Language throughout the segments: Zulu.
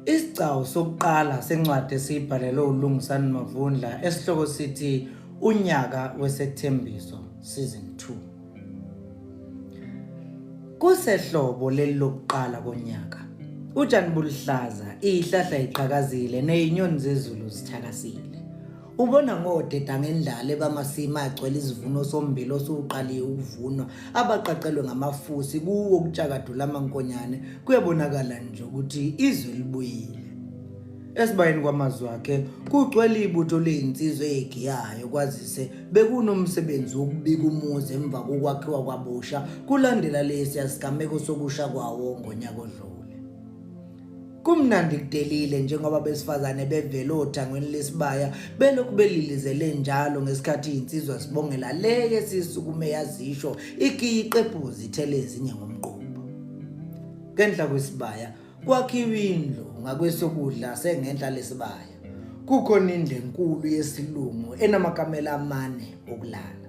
Isigcawu sokuqala sencwadi esiyibhalelwe uLungisani Mavundla esihloko sithi Unyaka Wesethembiso Season 2. Kusehlobo leli lokuqala konyaka. Utshani buluhlaza, izihlahla iqhakazile nezinyoni zezulu zithakasile. Ubona ngodeda ngendlala ebamasimi agcwele izivuno sombili osuqaliwe ukuvunwa abaqaqelwe ngamafusi kuwo ukutshakadula amankonyane kuyabonakala nje ukuthi izwe libuyile esibayeni kwamazwi akhe kugcwele ibutho leyinsizwa eyegiyayo kwazise bekunomsebenzi wokubika umuzi emva kokwakhiwa kwabusha kulandela lesi yasigameko sokusha kwawo ngonyaka odlule Kumnandi kudelile njengoba abesifazane bevele othangweni lesibaya belokhu belilizele njalo ngesikhathi insizwa sibongela le yesisukume yazisho ikiyi iqephuzi ithele ezinye ngomqondo. Ngenhla kwesibaya kwakhiwa indlu ngakwesokudla sengenhla lesibaya. Kukhona indlu enkulu yesilungu enamakamela amane okulala.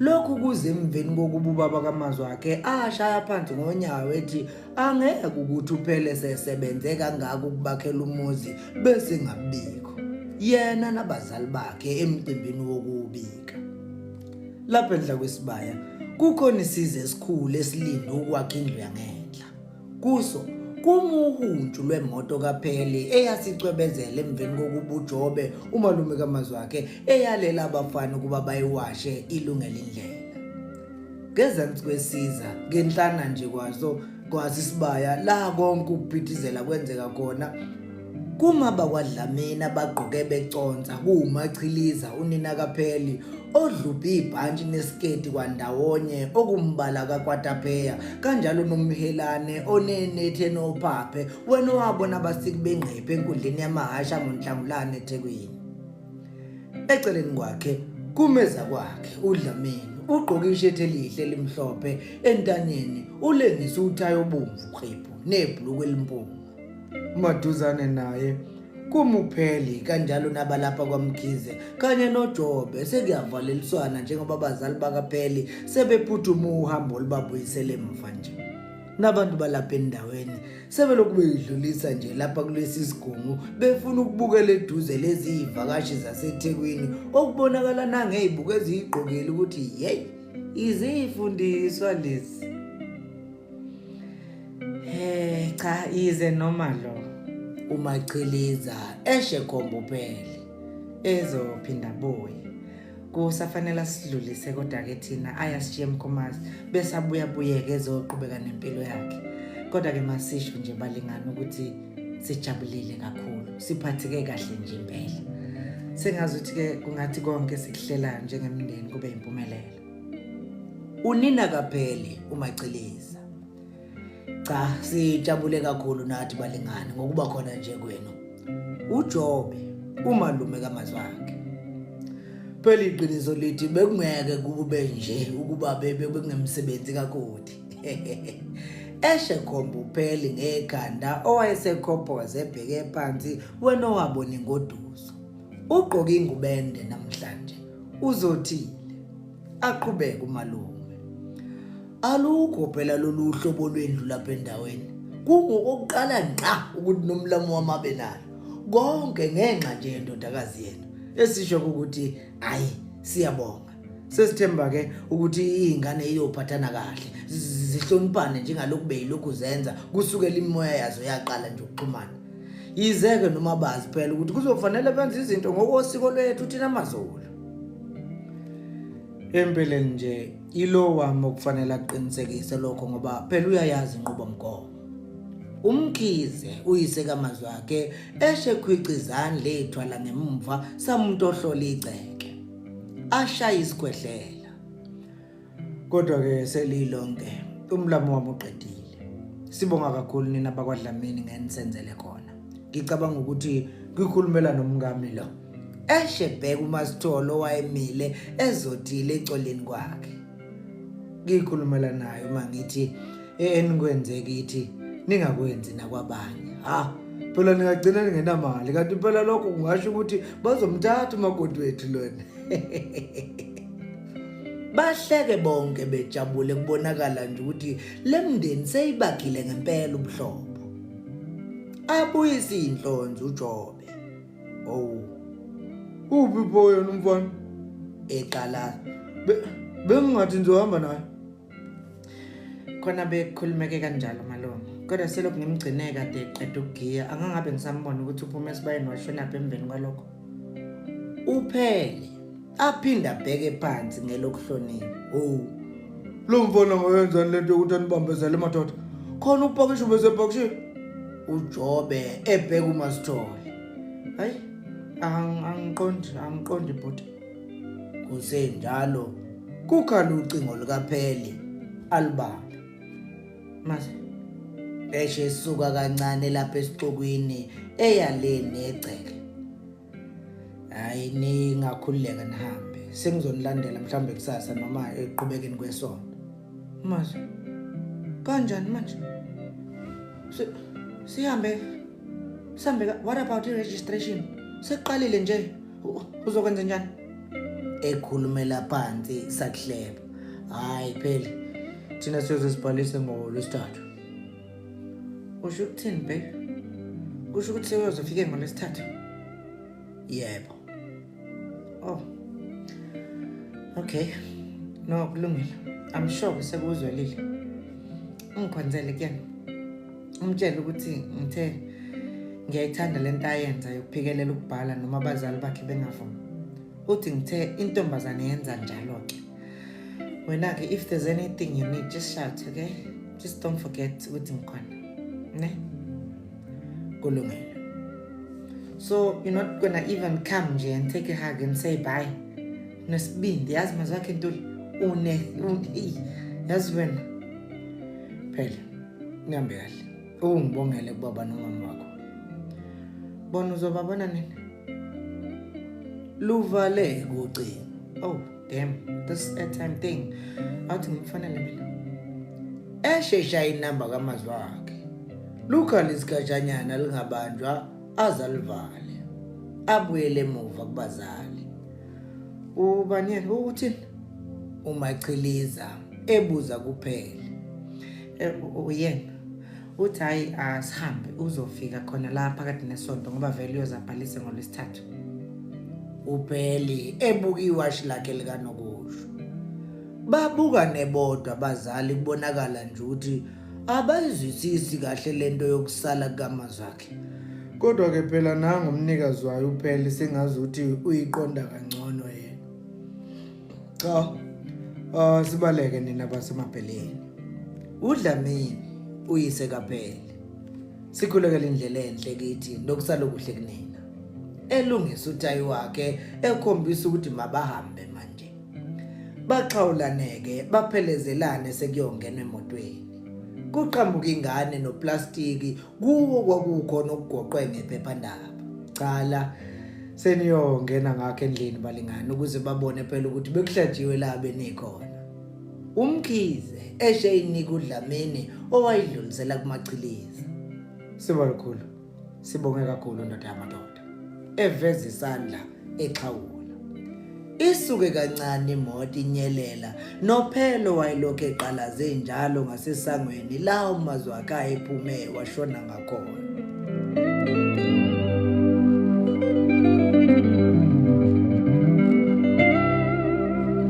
Lokhu kuze emveni kokuba ubaba kaMazwi wakhe ashaya phansi ngonyawo ethi angeke ukuthi uphele sesebenze kangaka ukubakhela umuzi bese ngabikho yena nabazali bakhe emcimbini wokubika lapha endla kwesibaya kukhona isize esikhulu esilinde ukwakha indlu yangenhla Kuso kumuhuntshu lwemoto kaPheli eyasicwebezela emveni kokuba uJobe umalume kaMazwakhe eyalela abafana ukuba bayiwashe ilungele indlela ngezansi kwesiza ngenhlana nje kwaso kwasisibaya la konke ukuphithizela kwenzeka khona Kuma bakwaDlamini abagqoke beconsa kuwumachiliza unina kaPheli odlubhe ibhantshi nesiketi kwandawonye okumbala kakwatapeya kanjalo nomhelane onenethe nophaphe wena owabona abasiki bengqephe enkundleni yamahasha ngonhlangulane eThekwini eceleni kwakhe kumeza kwakhe uDlamini ugqoke ishethi elihle elimhlophe entanyeni ulengisa uthayi obomvu qhiphu nebhulukwe elimpunga maduzane naye kumupheli kanjalo nabalapha kwamkhize kanye nojobe sekuyavaleliswana njengoba abazali bakapheli sebephuthuma uhambo olubabuyisele mva nje nabantu balapha endaweni sebelokhu beyidlulisa nje lapha kulesi sigungu befuna ukubukela eduze lezi yivakashi zasethekwini okubonakala nangey'buko eziyigqokile ukuthi yeyi iziyifundiswa lezi Eh cha ize noma lo umachiliza eshe kombupele ezophinda boy kusafanele sidlulise kodwa ke thina ayasishiye mkhomazi bese abuya buyeke ezoqhubeka nempilo yakhe kodwa ke masisho nje balingana ukuthi sijabulile kakhulu siphatheke kahle nje impela sengazi ukuthi ke kungathi konke sikuhlelayo njengemndeni kube impumelelo unina kapheli umachiliza cha sijabule kakhulu nathi balingani ngokuba khona nje kwenu uJobe umalume kamazwakhe phela iqiniso lithi bekungeke kube nje ukuba bebe bekungemsebenzi kakoti eshe khomba upheli ngekhanda owayesekhophoza ebheke phansi wena owabona ingoduso ugqoke ingubende namhlanje uzothile aqhubeke umalume Alukho phela lolu hlobo lwendlu lapha endaweni. Kungokokuqala ngqa ukuthi nomlamu wamabe nayo. Konke ngenxa nje yendodakazi yenu esisho ukuthi hayi siyabonga. Sesithemba ke ukuthi izingane iyophathana kahle zihloniphane njengalokhu beyilokhu zenza kusukela imimoya yazo yaqala nje ukuxhumana. Yizeke noma bazi phela ukuthi kuzofanele benze izinto ngokosiko lwethu thina maZulu. Empeleni nje Ilo wami okufanele aqinisekise lokho ngoba phela uyayazi inqubomgomo. Umkhize uyise kamazwi akhe eshe khwicizani lethu ala ngemumva samuntu ohlola igceke. Ashaya isikhwehlela. Kodwa ke selilonke umlamo wami uqedile. Sibonga kakhulu nina bakwaDlamini ngenisenzele khona. Ngicabanga ukuthi ngikhulumela nomngami lo. eshebheka umasitholo owayemile ezodile ecoleni kwakhe ngikhulumela naye uma ngithi enikwenze kithi ningakwenzi nakwabanye ha phela ningagcina ningenamali kanti phela lokho kungasho ukuthi bazomthatha umakoti wethu lona bahleke bonke bejabule kubonakala nje ukuthi le mndeni seyibagile ngempela ubuhlobo abuyise inhlonze uJobe owu uphi pho yena umfana eqalaza bengingathi ngizohamba naye khona bekhulumeke kanjalo malume kodwa selokhu ngimgcine kade qeda ukugiya angangabe ngisambona ukuthi uphume esibayeni washonaphi emveni kwalokho uphele aphinde abheke phansi ngelokuhlonipha owu lo mfana ngoyenzani le nto yokuthi anibambezele madoda khona upakisho besepakishini ujobe ebheka umasithole hayi angiqondi angiqondi bhuti kusenjalo kukhala ucingo likapheli alibambe mase eshe suka kancane lapha esixukwini eyaleni egceke hayi ningakhululeka nihambe sengizonilandela mhlawumbe kusasa noma eqhubekeni kwesonto manje kanjani manje sihambe sihambe what about i-registration sekuqalile nje uzokwenza njani ekhulumela phansi sakuhleba hayi phela thina siyoze sibhalise ngolwesithathu usho ukuthini babe kusho ukuthi sewuyozofike ngolwesithathu yebo oh okay no kulungile i'm sure sekuzwelile ungikhonzele kuyena umtshele ukuthi ngithe ngiyayithanda le nto ayenza yokuphikelela ukubhala noma abazali bakhe bengavumi uthi ngithe intombazane yenza njalo-ke wena ke if there's anything you need just shout okay just don't forget ukuthi ngikhona ne kulungile so you're not gonna even come nje and take a hug and say bye nesibindi yazi mazwi akhe ntuli une yazi wena phela ngihambe kahle ungibongele kubaba nomama wakho bona uzobabona nini luvale kucingo oh damn this airtime thing awuthi ngimfanele mina eshesha inamba kamazwi wakhe lukhale isikhatshanyana lingabanjwa aze alivale abuyele emuva kubazali ubani yena uthini umachiliza ebuza kuphela eh, uyena uthi hhayi asihambe uzofika khona la phakathi nesonto ngoba vele uyozabhalise ngolwesithathu ubheli ebuka iwashi lakhe likanokusho babuka nebodwa abazali kubonakala nje ukuthi abayizwisisi kahle lento yokusala kukamazakhe kodwa ke phela nangu umnikazi wayo uphele sengazi ukuthi uyiqonda kangcono cha uh, sibaleke nina basemabheleni udlamini uyise kaphele sikhulekela indlela enhle kithi nokusala okuhle kunina elungisa utayi wakhe ekhombisa ukuthi mabahambe manje baxhawulaneke baphelezelane sekuyongena emotweni kuqhamuka ingane noplastiki kuwo kwakukhona okugoqwe ngephephandaba cala seniyongena ngakho endlini balingani ukuze babone phela ukuthi bekuhlajiwe la benikhona umkhize eshe inika udlamini owayidlulisela kumachiliza sibalukhulu sibonge kakhulu ndoda yamadoda eveza isandla exhawula isuke kancane imoto inyelela nophelo wayelokhu eqalaze njalo ngasesangweni la umazwi wakhe ephume washona ngakhona